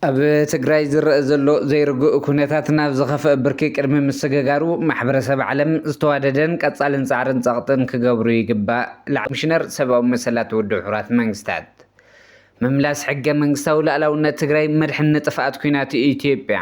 ኣብ ትግራይ ዝረአ ዘሎ ዘይርግእ ኩነታት ናብ ዝኸፍአ ብርኪ ቅድሚ ምስግጋሩ ማሕበረሰብ ዓለም ዝተዋደደን ቀፃልን ፃዕርን ፀቕጥን ክገብሩ ይግባእ ላዕለዋይ ኮሚሽነር ሰብኣዊ መሰላት ውድብ ሕቡራት መንግስታት ምምላስ ሕገ መንግስታዊ ላእላውነት ትግራይ መድሕን ንጥፍኣት ኩናት ኢትዮጵያ።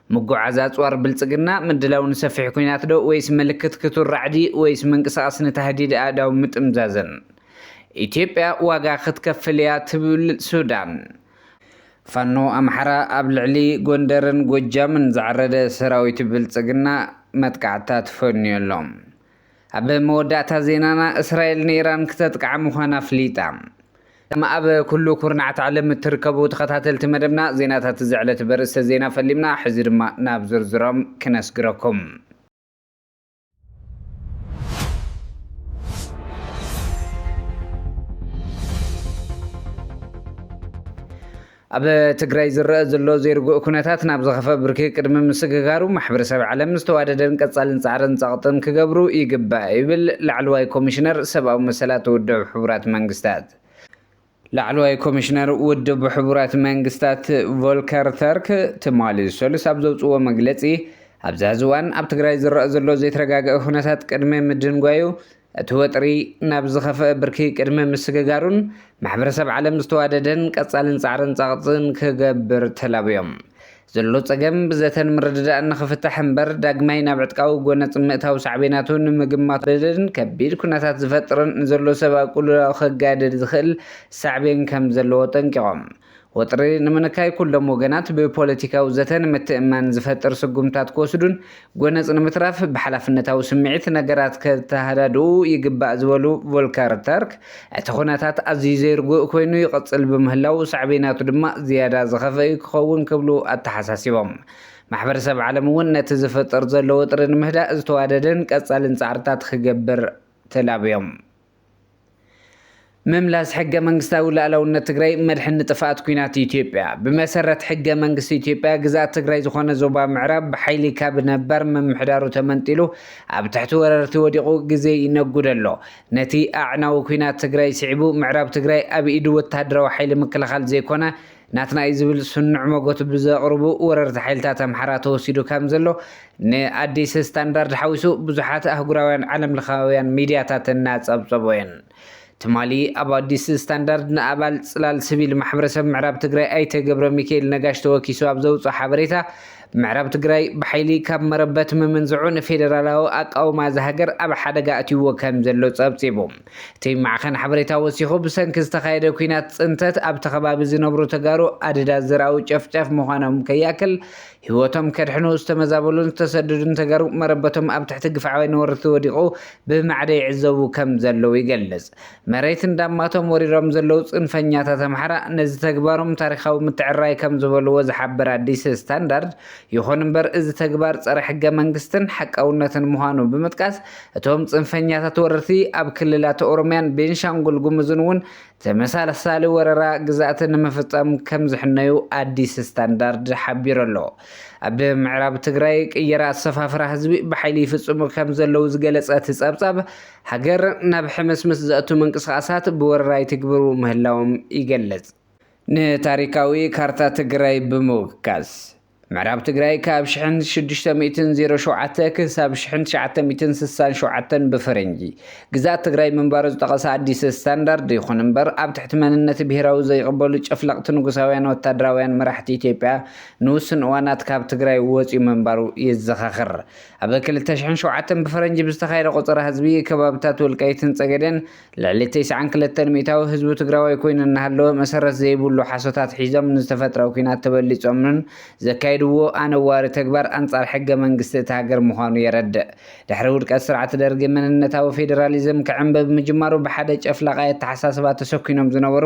ምጉዓዝ ኣጽዋር ብልጽግና፣ ምድላው ንሰፊሕ ኩናት ዶ ወይስ ምልክት ክቱር ራዕዲ ወይስ ምንቅስቓስ ንታህዲድ ኣእዳው ምጥምዛዝን። ኢትዮጵያ ዋጋ ክትከፍል እያ ትብል ሱዳን። ፋኖ ኣምሓራ ኣብ ልዕሊ ጎንደርን ጎጃምን ዝዓረደ ሰራዊት ብልጽግና መጥቃዕትታት ፈንዩ ኣሎ። ኣብ መወዳእታ ዜናና እስራኤል ንኢራን ክተጥቅዓ ምዃና ኣፍሊጣ። ከም ኣብ ኩሉ ኩርናዓት ዓለም እትርከቡ ተኸታተልቲ መደብና ዜናታት እዚ ዕለት በርእስተ ዜና ፈሊምና ሕዚ ድማ ናብ ዝርዝሮም ክነስግረኩም። ኣብ ትግራይ ዝረኣ ዘሎ ዘይርጉእ ኩነታት ናብ ዝኸፈ ብርኪ ቅድሚ ምስግጋሩ ማሕበረሰብ ዓለም ዝተዋደደን ቀፃልን ፃዕርን ፀቕጥን ክገብሩ ይግባእ ይብል ላዕለዋይ ኮሚሽነር ሰብኣዊ መሰላት ውድብ ሕቡራት መንግስታት። ላዕለዋይ ኮሚሽነር ውድብ ሕቡራት መንግስታት ቮልከር ተርክ ትማሊ ሰሉስ ኣብ ዘውፅዎ መግለፂ ኣብዚ ሐዚ እዋን ኣብ ትግራይ ዝረኣ ዘሎ ዘይተረጋገኣ ኩነታት ቅድሚ ምድንጓዩ እቲ ወጥሪ ናብ ዝኸፍኣ ብርኪ ቅድሚ ምስግጋሩን ማሕበረሰብ ዓለም ዝተዋደደን ቀፃልን ፃዕርን ፀቕጥን ክገብር ተላብዮም። ዘሎ ፀገም ብዘተን ምርድዳእን ንኽፍታሕ እምበር ዳግማይ ናብ ዕጥቃዊ ጎነፅ ምእታው ሳዕቤናቱ ንምግማቱ ዘገድድን ከቢድ ኩነታት ዝፈጥርን ንዘሎ ሰብኣዊ ቅልውላው ከጋድድ ዝኽእል ሳዕቤን ከምዘለዎ ኣጠንቂቖም። ወጥሪ ንምንካይ ኩሎም ወገናት ብፖለቲካዊ ዘተ ንምትእምማን ዝፈጥር ስጉምትታት ክወስዱን ጎነጽ ንምትራፍ ብሓላፍነታዊ ስምዒት ነገራት ከተሃዳድኡ ይግባእ ዝበሉ ቮልከር ተርክ፣ እቲ ኩነታት ኣዝዩ ዘይርጉእ ኮይኑ ይቕጽል ብምህላዉ ሳዕቤናቱ ድማ ዝያዳ ዝኸፍኣ'ዩ ክኸውን ክብሉ ኣተሓሳሲቦም። ማሕበረሰብ ዓለም'ውን ነቲ ዝፍጠር ዘሎ ወጥሪ ንምህዳእ ዝተዋደደን ቀጻሊን ጻዕርታት ክገብር ተላብዮም። ምምላስ ሕገ መንግስታዊ ላእላውነት ትግራይ መድሕን ንጥፍኣት ኩናት ኢትዮጵያ ብመሰረት ሕገ መንግስቲ ኢትዮጵያ ግዝኣት ትግራይ ዝኾነ ዞባ ምዕራብ ብሓይሊ ካብ ነባር ምምሕዳሩ ተመንጢሉ ኣብ ትሕቲ ወረርቲ ወዲቑ ግዜ ይነጉድ ኣሎ። ነቲ ኣዕናዊ ኩናት ትግራይ ስዒቡ ምዕራብ ትግራይ ኣብ ኢዱ ወተሃደራዊ ሓይሊ ምክልኻል ዘይኮነ ናትናይ ዝብል ስኑዕ መጎት ብዘቕርቡ ወረርቲ ሓይልታት ኣምሓራ ተወሲዱ ከም ዘሎ ንኣዲስ ስታንዳርድ ሓዊሱ ብዙሓት ኣህጉራውያን ዓለም ለኻውያን ሚድያታት እናጸብጸቦ እየን። ትማሊ ኣብ ኣዲስ ስታንዳርድ ንኣባል ጽላል ስቪል ማሕበረሰብ ምዕራብ ትግራይ ኣይተ ገብረሚካኤል ነጋሽ ተወኪሱ ኣብ ዘውጽኦ ሓበሬታ ምዕራብ ትግራይ ብሓይሊ ካብ መረበት ምምንዝዑ ንፌደራላዊ ኣቃውማ እዛ ሃገር ኣብ ሓደጋ ኣትይዎ ከም ዘሎ ጸብጺቡ። እቲ ማዕኸን ሓበሬታ ወሲኹ ብሰንኪ ዝተኻየደ ኩናት ፅንተት ኣብቲ ከባቢ ዝነብሩ ተጋሩ ኣደዳ ዘርኣዊ ጨፍጫፍ ምዃኖም ከይኣክል ህይወቶም ከድሕኑ ዝተመዛበሉን ዝተሰደዱን ተጋሩ መረበቶም ኣብ ትሕቲ ግፍዓዊ ነወርቲ ወዲቑ ብማዕደ ይዕዘቡ ከም ዘለዉ ይገልፅ። መሬት እንዳማቶም ወሪሮም ዘለዉ ፅንፈኛታት ኣምሓራ ነዚ ተግባሮም ታሪኻዊ ምትዕርራይ ከም ዝበልዎ ዝሓብር ኣዲስ ስታንዳርድ ይኹን እምበር እዚ ተግባር ፀረ ሕገ መንግስትን ሓቃውነትን ምዃኑ ብምጥቃስ እቶም ፅንፈኛታት ወረርቲ ኣብ ክልላት ኦሮሚያን ቤንሻንጉል ጉሙዝን እውን ተመሳሳሊ ወረራ ግዝኣት ንምፍፃም ከምዝሕነዩ ኣዲስ ስታንዳርድ ሓቢሩ ኣሎ። ኣብ ምዕራብ ትግራይ ቅየራ ኣሰፋፍራ ህዝቢ ብሓይሊ ይፍፅሙ ከምዘለዉ ዝገለፀ እቲ ፀብፃብ፣ ሃገር ናብ ሕምስምስ ዘእቱ ምንቅስቓሳት ብወረራ ይትግብሩ ምህላዎም ይገልፅ። ንታሪካዊ ካርታ ትግራይ ብምውካስ። ምዕራብ ትግራይ ካብ ሽሕን ሽዱሽተ ሚእትን ዜሮ ሸውዓተ ክሳብ ሽሕን ትሽዓተ ሚእትን ስሳን ሸውዓተን ብፈረንጂ ግዛት ትግራይ ምንባሩ ዝጠቐሰ ኣዲስ ስታንዳርድ ይኹን እምበር ኣብ ትሕቲ መንነት ብሄራዊ ዘይቕበሉ ጨፍለቕቲ ንጉሳውያን ወታደራውያን መራሕቲ ኢትዮጵያ ንውስን እዋናት ካብ ትግራይ ወፅዩ ምንባሩ ይዘኻኽር። ኣብ ክልተ ሽሕን ሸውዓተን ብፈረንጂ ብዝተኻየደ ቆፀራ ህዝቢ ከባብታት ወልቃይትን ፀገዴን ልዕሊ ተስዓን ክልተን ሚእታዊ ህዝቢ ትግራዋይ ኮይኑ እናሃለወ መሰረት ዘይብሉ ሓሶታት ሒዞም ንዝተፈጥረ ኲናት ተበሊፆምን ዘካይድዎ ኣነዋሪ ተግባር ኣንፃር ሕገ መንግስቲ እታ ሃገር ምዃኑ የረድእ። ድሕሪ ውድቀት ስርዓት ደርጊ መንነታዊ ፌዴራሊዝም ክዕምብብ ምጅማሩ ብሓደ ጨፍላቓይ ኣተሓሳስባ ተሰኲኖም ዝነበሩ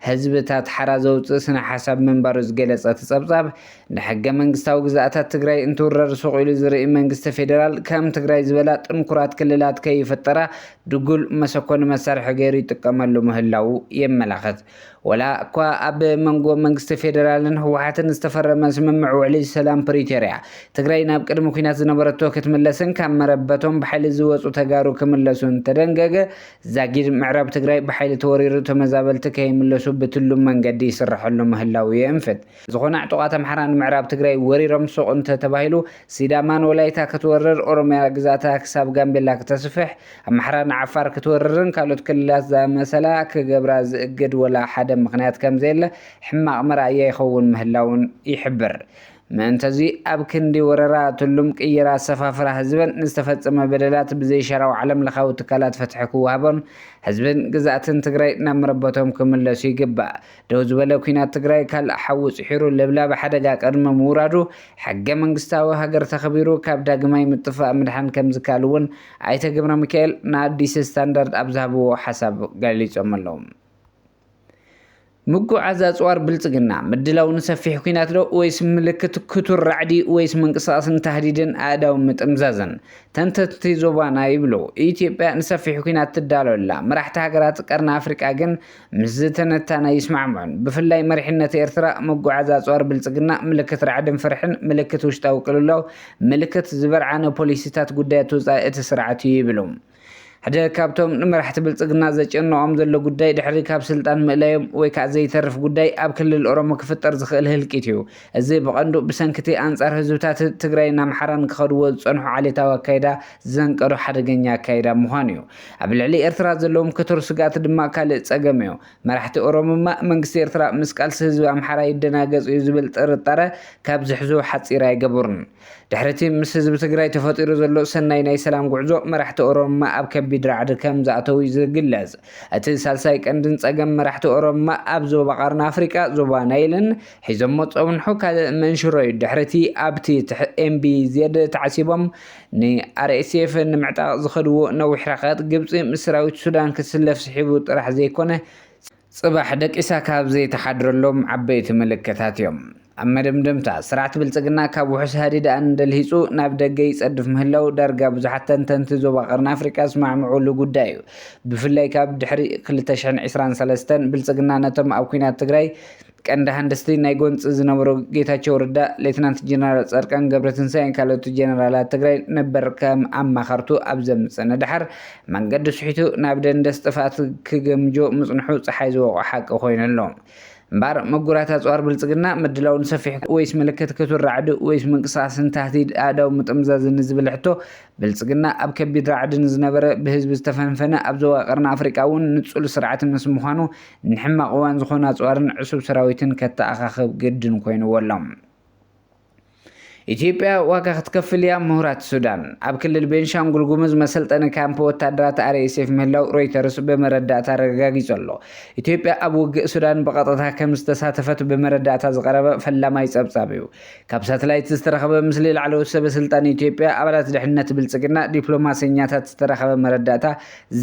ህዝብታት ሓራ ዘውፅእ ስነ ሓሳብ ምንባሩ ዝገለፀ እቲ ፀብፃብ ንሕገ መንግስታዊ ግዝኣታት ትግራይ እንትውረር ሱቕ ኢሉ ዝርኢ መንግስቲ ፌደራል ከም ትግራይ ዝበላ ጥንኩራት ክልላት ከይፍጠራ ድጉል መሰኮኒ መሳርሒ ገይሩ ይጥቀመሉ ምህላዉ የመላኽት። ወላ እኳ ኣብ መንጎ መንግስቲ ፌደራልን ህወሓትን ዝተፈረመ ስምምዕ ውዕሊ ሰላም ፕሪቶርያ ትግራይ ናብ ቅድሚ ኲናት ዝነበረቶ ክትምለስን ካብ መረበቶም ብሓይሊ ዝወፁ ተጋሩ ክምለሱን ተደንገገ ዛጊድ ምዕራብ ትግራይ ብሓይሊ ተወሪሩ ተመዛበልቲ ከይምለሱ ብትሉም መንገዲ ይስረሐሉ ምህላዉ የእንፍት። ዝኾነ ዕጡቓት ኣምሓራ ንምዕራብ ትግራይ ወሪሮም ሱቕ እንተ ተባሂሉ ሲዳማ ንወላይታ ክትወርር፣ ኦሮምያ ግዝኣታ ክሳብ ጋምቤላ ክተስፍሕ፣ ኣምሓራ ንዓፋር ክትወርርን ካልኦት ክልላት ዝኣመሰላ ክገብራ ዝእግድ ወላ ሓደ ምኽንያት ከም ዘየለ ሕማቕ መርኣያ ይኸውን ምህላዉን ይሕብር። ምእንተዚ ኣብ ክንዲ ወረራ፣ ትሉም ቅይራ፣ ኣሰፋፍራ ህዝብን ንዝተፈጸመ በደላት ብዘይሻራዊ ዓለምለኻዊ ትካላት ፍትሒ ክወሃቦን ህዝብን ግዝኣትን ትግራይ ናብ መረበቶም ክምለሱ ይግባእ ደው ዝበለ ኲናት ትግራይ ካልእ ሓዊ ጽሒሩ ለብላቢ ሓደጋ ቅድሚ ምውራዱ ሕገ መንግስታዊ ሃገር ተኸቢሩ ካብ ዳግማይ ምጥፋእ ምድሓን ከምዝከኣል እውን ኣይተ ገብረሚካኤል ንኣዲስ ስታንዳርድ ኣብ ዝሃብዎ ሓሳብ ገሊጾም ኣለዉ። ምጉዕዓዝ ኣጽዋር ብልጽግና፣ ምድላው ንሰፊሕ ኲናት ዶ ወይስ ምልክት ክቱር ራዕዲ ወይስ ምንቅስቓስ ንታህዲድን ኣእዳው ምጥምዛዝን? ተንተንቲ ዞባና ይብሉ፣ ኢትዮጵያ ንሰፊሕ ኲናት ትዳሎ ኣላ፣ መራሕቲ ሃገራት ቀርኒ ኣፍሪቃ ግን ምስዚ ትንታነ ይስማዕምዑን ብፍላይ መሪሕነት ኤርትራ ምጉዓዝ ኣጽዋር ብልጽግና ምልክት ራዕድን ፍርሕን፣ ምልክት ውሽጣዊ ቅልውላው፣ ምልክት ዝበርዓነ ፖሊሲታት ጉዳያት ወጻኢ እቲ ስርዓት እዩ ይብሉ። ሓደ ካብቶም ንመራሕቲ ብልጽግና ዘጨንቖም ዘሎ ጉዳይ ድሕሪ ካብ ስልጣን ምእላዮም ወይ ከዓ ዘይተርፍ ጉዳይ ኣብ ክልል ኦሮሞ ክፍጠር ዝኽእል ህልቂት እዩ። እዚ ብቐንዱ ብሰንኪ'ቲ ኣንጻር ህዝብታት ትግራይን ኣምሓራን ክኸድዎ ዝጸንሑ ዓሌታዊ ኣካይዳ ዘንቀዶ ሓደገኛ ኣካይዳ ምዃኑ'ዩ። ኣብ ልዕሊ ኤርትራ ዘለዎም ክቱር ስግኣት ድማ ካልእ ጸገም'ዩ። መራሕቲ ኦሮምማ፣ መንግስቲ ኤርትራ ምስ ቃልሲ ህዝቢ ኣምሓራ ይደናገጽ'ዩ ዝብል ጥርጣረ ካብ ዝሕዙ ሓጺር ኣይገቡርን። ድሕሪ እቲ ምስ ህዝቢ ትግራይ ተፈጢሩ ዘሎ ሰናይ ናይ ሰላም ጉዕዞ መራሕቲ ኦሮምማ ኣብ ከቢድ ራዕዲ ከም ዝኣተው እዩ ዝግለጽ። እቲ ሳልሳይ ቀንድን ጸገም መራሕቲ ኦሮምማ ኣብ ዞባ ቐርኒ ኣፍሪቃ፣ ዞባ ናይልን፣ ሒዞሞ ዝጸንሑ ካልእ መንሽሮ እዩ። ድሕሪ እቲ ኣብቲ MBZ ተዓሲቦም ን RSF ንምዕጣቕ ዝኸድዎ ነዊሕ ርሕቀት፣ ግብጺ ምስ ሰራዊት ሱዳን ክትስለፍ ስሒቡ ጥራሕ ዘይኮነ፣ ጽባሕ ደቂሳ ካብ ዘይትሓድረሎም ዓበይቲ ምልክታት እዮም። ኣብ መደምደምታ፣ ስርዓት ብልጽግና ካብ ውሑስ ሃዲደኣን ደልሂጹ ናብ ደገ ይጸድፍ ምህላዉ ዳርጋ ብዙሓት ተንተንቲ ዞባ ቀርኒ ኣፍሪቃ ዝስማዕምዑሉ ጉዳይ እዩ። ብፍላይ ካብ ድሕሪ ክልተ ሽሕን ዕስራን ሰለስተን ብልጽግና ነቶም ኣብ ኲናት ትግራይ ቀንዲ ሃንደስቲ ናይ ጎንፂ ዝነበሩ ጌታቸው ረዳ፣ ሌተናንት ጀነራል ፃድቃን ገብረትንሳኤን ካልኦት ጀነራላት ትግራይ ነበር ከም ኣማኸርቱ ኣብ ዘምፅእ ንደሓር መንገዱ ስሒቱ ናብ ደንደስ ጥፍኣት ክገምጆ ምፅንሑ ፀሓይ ዝወቕዖ ሓቂ ኮይኑ ኣሎ። እምበኣር ምጉራት ኣፅዋር ብልፅግና ምድላው ንሰፊሕ ወይስ ምልክት ክቱር ራዕዲ ወይስ ምንቅስቓስን ታህዲድ ኣእዳው ምጥምዛዝን ንዝብል ሕቶ ብልፅግና ኣብ ከቢድ ራዕዲ ንዝነበረ ብህዝቢ ዝተፈንፈነ ኣብ ዞባ ቀርኒ ኣፍሪቃ እውን ንፁል ስርዓት ምስ ምዃኑ ንሕማቕ እዋን ዝኾኑ ኣጽዋርን ዕሱብ ሰራዊትን ከተኣኻኽብ ግድን ኮይኑዎ ኣሎ። ኢትዮጵያ ዋጋ ክትከፍል እያ፣ ምሁራት ሱዳን። ኣብ ክልል ቤንሻንጉል ጉሙዝ መሰልጠኒ ካምፕ ወታደራት RSF ምህላው ሮይተርስ ብመረዳእታ ኣረጋጊጹ ኣሎ። ኢትዮጵያ ኣብ ውግእ ሱዳን ብቐጥታ ከም ዝተሳተፈት ብመረዳእታ ዝቐረበ ፈላማይ ጸብጻብ እዩ። ካብ ሳተላይት ዝተረኸበ ምስሊ ላዕለዎት ሰበስልጣን ኢትዮጵያ፣ ኣባላት ድሕነት ብልጽግና፣ ዲፕሎማሰኛታት ዝተረኸበ መረዳእታ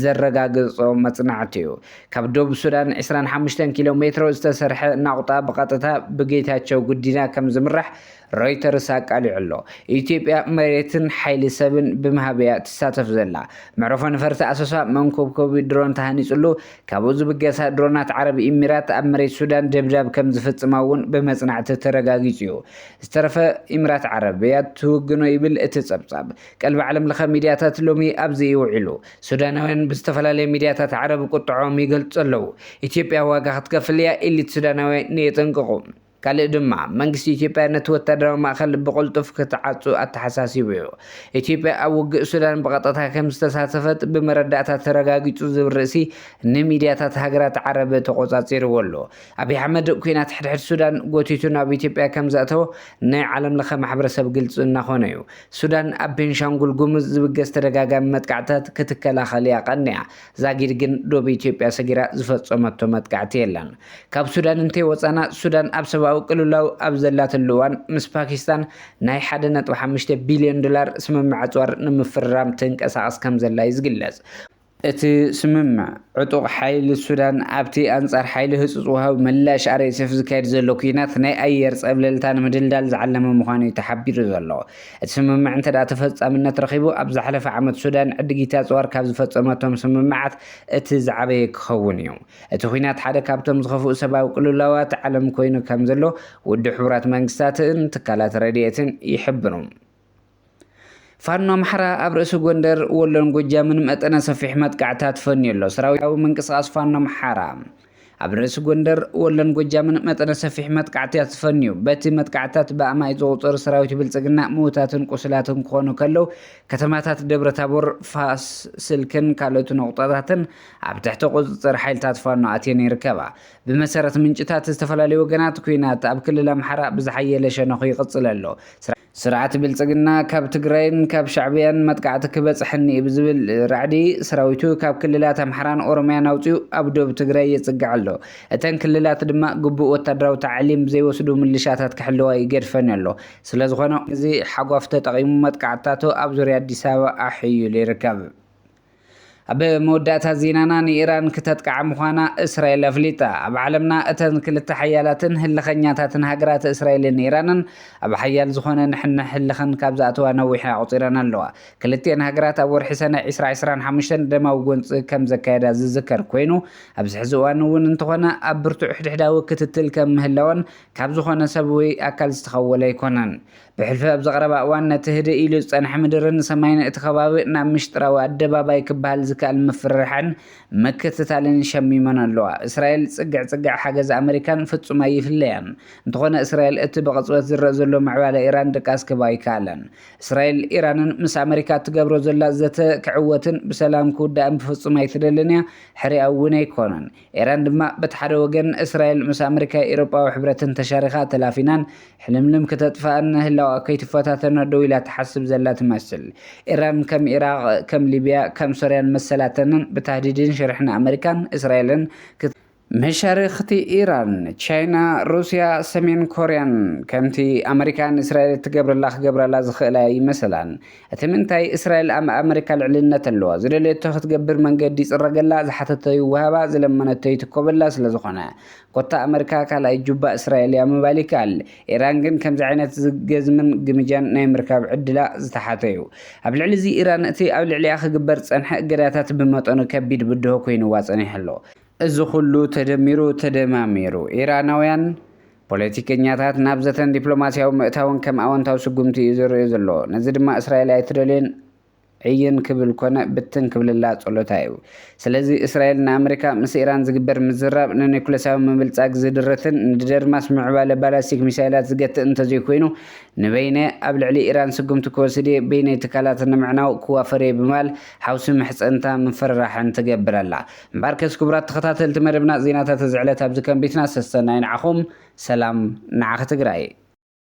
ዘረጋግጾ መጽናዕቲ እዩ። ካብ ዶብ ሱዳን ዕስራን ሓሙሽተን ኪሎ ሜትሮ ዝተሰርሐ ናቑጣ ብቐጥታ ብጌታቸው ጉዲና ከም ዝምራሕ ሮይተርስ ኣቃሊዑ ኣሎ። ኢትዮጵያ መሬትን ሓይሊ ሰብን ብምሃብ እያ ትሳተፍ ዘላ። መዕርፎ ነፈርቲ ኣሶሳ መንኮብኮቢ ድሮን ተሃኒጹሉ፣ ካብኡ ዝብገሳ ድሮናት ዓረብ ኢሚራት ኣብ መሬት ሱዳን ደብዳብ ከም ዝፍጽማ እውን ብመጽናዕቲ ተረጋጊጹ እዩ። ዝተረፈ ኢሚራት ዓረብ እያ ትውግኖ ይብል እቲ ጸብጻብ። ቀልቢ ዓለምለኸ ሚድያታት ሎሚ ኣብዚ እዩ ውዒሉ። ሱዳናውያን ብዝተፈላለየ ሚድያታት ዓረብ ቁጥዐኦም ይገልጹ ኣለዉ። ኢትዮጵያ ዋጋ ክትከፍል እያ ኢሊት ሱዳናውያን የጠንቅቑ። ካልእ ድማ መንግስቲ ኢትዮጵያ ነቲ ወታደራዊ ማእከል ብቕልጡፍ ክትዓጹ ኣተሓሳሲቡ እዩ። ኢትዮጵያ ኣብ ውግእ ሱዳን ብቐጥታ ከምዝተሳተፈት ብመረዳእታ ተረጋጊጹ ዝብል ርእሲ ንሚድያታት ሃገራት ዓረብ ተቖጻጺርዎ ኣሎ። ኣብይ ኣሕመድ ኲናት ሕድሕድ ሱዳን ጎቲቱ ናብ ኢትዮጵያ ከምዘእተዎ ናይ ዓለምለኸ ማሕበረሰብ ግልጺ እናኾነ እዩ። ሱዳን ኣብ ቤንሻንጉል ጉሙዝ ዝብገስ ተደጋጋሚ መጥቃዕትታት ክትከላኸል እያ ቀኒኣ። ዛጊድ ግን ዶብ ኢትዮጵያ ሰጊራ ዝፈጸመቶ መጥቃዕቲ የለን። ካብ ሱዳን እንተይወጻና፣ ሱዳን ኣብ ሰብኣዊ ቅልውላው ኣብ ዘላትሉ እዋን ምስ ፓኪስታን ናይ ሓደ ነጥቢ ሓሙሽተ ቢልዮን ዶላር ስምምዕ ኣጽዋር ንምፍርራም ትንቀሳቐስ ከምዘላ እዩ ዝግለጽ። እቲ ስምምዕ፣ ዕጡቕ ሓይሊ ሱዳን ኣብቲ ኣንጻር ሓይሊ ህጹጽ ወሃቢ ምላሽ RSF ዝካየድ ዘሎ ኲናት ናይ ኣየር ጸብለልታ ንምድልዳል ዝዓለመ ምዃኑ'ዩ ተሓቢሩ ዘሎ። እቲ ስምምዕ እንተድኣ ተፈጻምነት ረኺቡ፣ ኣብ ዝሓለፈ ዓመት ሱዳን ዕድጊት ኣጽዋር ካብ ዝፈጸመቶም ስምምዓት እቲ ዝዓበየ ክኸውን'ዩ። እቲ ኲናት ሓደ ካብቶም ዝኸፍኡ ሰብኣዊ ቅልውላዋት ዓለም ኮይኑ ከምዘሎ ውድብ ሕቡራት መንግስታትን ትካላት ረድኤትን ይሕብሩ። ፋኖ ኣምሓራ ኣብ ርእሲ ጎንደር፣ ወሎን ጎጃምን መጠነ ሰፊሕ መጥቃዕታት ፈንዩ ኣሎ። ሰራዊታዊ ምንቅስቓስ ፋኖ ኣምሓራ ኣብ ርእሲ ጎንደር፣ ወሎን ጎጃምን መጠነ ሰፊሕ መጥቃዕትታት ፈንዩ። በቲ መጥቃዕትታት ብኣማኢት ዝቑጸሩ ሰራዊት ብልጽግና ምዉታትን ቁስላትን ክኾኑ ከለዉ፣ ከተማታት ደብረ ታቦር፣ ፋስ፣ ስልክን ካልኦት ነቑጣታትን ኣብ ትሕቲ ቁጽጽር ሓይልታት ፋኖ ኣትየን ይርከባ። ብመሰረት ምንጭታት ዝተፈላለዩ ወገናት፣ ኲናት ኣብ ክልል ኣምሓራ ብዝሓየለ ሸነኹ ይቕጽል ኣሎ። ስርዓት ብልፅግና ካብ ትግራይን ካብ ሻዕብያን መጥቃዕቲ ክበፅሐኒ'ዩ ብዝብል ራዕዲ ሰራዊቱ ካብ ክልላት ኣምሓራን ኦሮምያን ኣውፂኡ ኣብ ዶብ ትግራይ የፅግዕ ኣሎ። እተን ክልላት ድማ ግቡእ ወታደራዊ ታዕሊም ዘይወስዱ ምልሻታት ክሕልዋ ይገድፈን ኣሎ። ስለዝኾነ። ነዚ ሓጓፍ ተጠቒሙ መጥቃዕትታቱ ኣብ ዙርያ ኣዲስ ኣበባ ኣሐይሉ ይርከብ። ኣብ መወዳእታ ዜናና ንኢራን ክተጥቅዓ ምዃና እስራኤል ኣፍሊጣ። ኣብ ዓለምና እተን ክልተ ሓያላትን ህልኸኛታትን ሃገራት እስራኤልን ኢራንን ኣብ ሓያል ዝኾነ ንሕንሕ ህልኽን ካብ ዝኣተዋ ነዊሕ ኣቑጺረን ኣለዋ። ክልቲኤን ሃገራት ኣብ ወርሒ ሰነ ዕስራ ዕስራን ሓሙሽተን ደማዊ ጎንጺ ከም ዘካየዳ ዝዝከር ኮይኑ ኣብዚ ሕዚ እዋን እውን እንተኾነ ኣብ ብርቱዕ ሕድሕዳዊ ክትትል ከም ምህላወን ካብ ዝኾነ ሰብ ወይ ኣካል ዝተኸወለ ኣይኮነን። ብሕልፊ ኣብዚ ቀረባ እዋን ነቲ ህድእ ኢሉ ዝጸንሐ ምድርን ሰማይን እቲ ከባቢ ናብ ምሽጥራዊ ኣደባባይ ክበሃል ዝከኣል ምፍርራሕን ምክትታልን ሸሚመን ኣለዋ። እስራኤል ጽግዕ ጽግዕ ሓገዝ ኣመሪካን ፍጹም ኣይፍለያን። እንተኾነ እስራኤል እቲ ብቕጽበት ዝረእ ዘሎ ምዕባለ ኢራን ድቃስ ክህባ ኣይከኣለን። እስራኤል ኢራንን ምስ ኣመሪካ እትገብሮ ዘላ ዘተ ክዕወትን ብሰላም ክውዳእን ብፍጹም ኣይትደልን እያ ሕሪኣ እውን ኣይኮነን። ኢራን ድማ በቲ ሓደ ወገን እስራኤል ምስ ኣመሪካ ኤሮጳዊ ሕብረትን ተሻሪኻ ተላፊናን ሕልምልም ክተጥፍኣን ንህላወኣ ከይትፈታተኖ ደው ኢላ ትሓስብ ዘላ ትመስል። ኢራን ከም ኢራቕ፣ ከም ሊብያ፣ ከም ሶርያን መሰላተንን ብታህዲድን ሽርሕን ኣመሪካን እስራኤልን መሻርኽቲ ኢራን፣ ቻይና፣ ሩስያ፣ ሰሜን ኮርያን ከምቲ ኣመሪካ ንእስራኤል እትገብረላ ክገብራላ ዝኽእላ ኣይመሰላን። እቲ ምንታይ እስራኤል ኣብ ኣመሪካ ልዕልነት ኣለዋ፣ ዝደለየቶ ክትገብር መንገዲ ይጽረገላ፣ ዝሓተቶ ይወሃባ፣ ዝለመነቶ ይትኮበላ ስለ ዝኾነ። ኮታ ኣመሪካ ካልኣይ ጁባ እስራኤል እያ ምባል ይከኣል። ኢራን ግን ከምዚ ዓይነት ዝገዝምን ግምጃን ናይ ምርካብ ዕድላ ዝተሓተ'ዩ። ኣብ ልዕሊ'ዚ ኢራን እቲ ኣብ ልዕሊኣ ክግበር ዝጸንሐ እገዳታት ብመጠኑ ከቢድ ብድሆ ኮይኑዋ ጸኒሑ ኣሎ። እዚ ኩሉ ተደሚሩ ተደማሚሩ ኢራናውያን ፖለቲከኛታት ናብ ዘተን ዲፕሎማስያዊ ምእታውን ከም ኣወንታዊ ስጉምቲ እዩ ዝርእዩ ዘሎ። ነዚ ድማ እስራኤል ኣይትደልዮን ዕይን ክብል ኮነ ብትን ክብልላ ጸሎታ እዩ። ስለዚ እስራኤል ንኣመሪካ ምስ ኢራን ዝግበር ምዝራብ ንኒኩለሳዊ ምብልጻግ ዝድርትን ንደርማስ ምዕባለ ባላስቲክ ሚሳይላት ዝገትእ እንተዘይኮይኑ ንበይነ ኣብ ልዕሊ ኢራን ስጉምቲ ክወስድየ በይነይ ትካላት ንምዕናው ክዋፈርየ ብማል ሓውሲ ምሕጽንታ ምፍርራሕን ትገብር ኣላ። እምበኣርከስ ክቡራት ተኸታተልቲ መደብና ዜናታት እዚ ዕለት ኣብዚ ከንቢትና ሰሰናዩ ንዓኹም ሰላም ንዓኺ ትግራይ።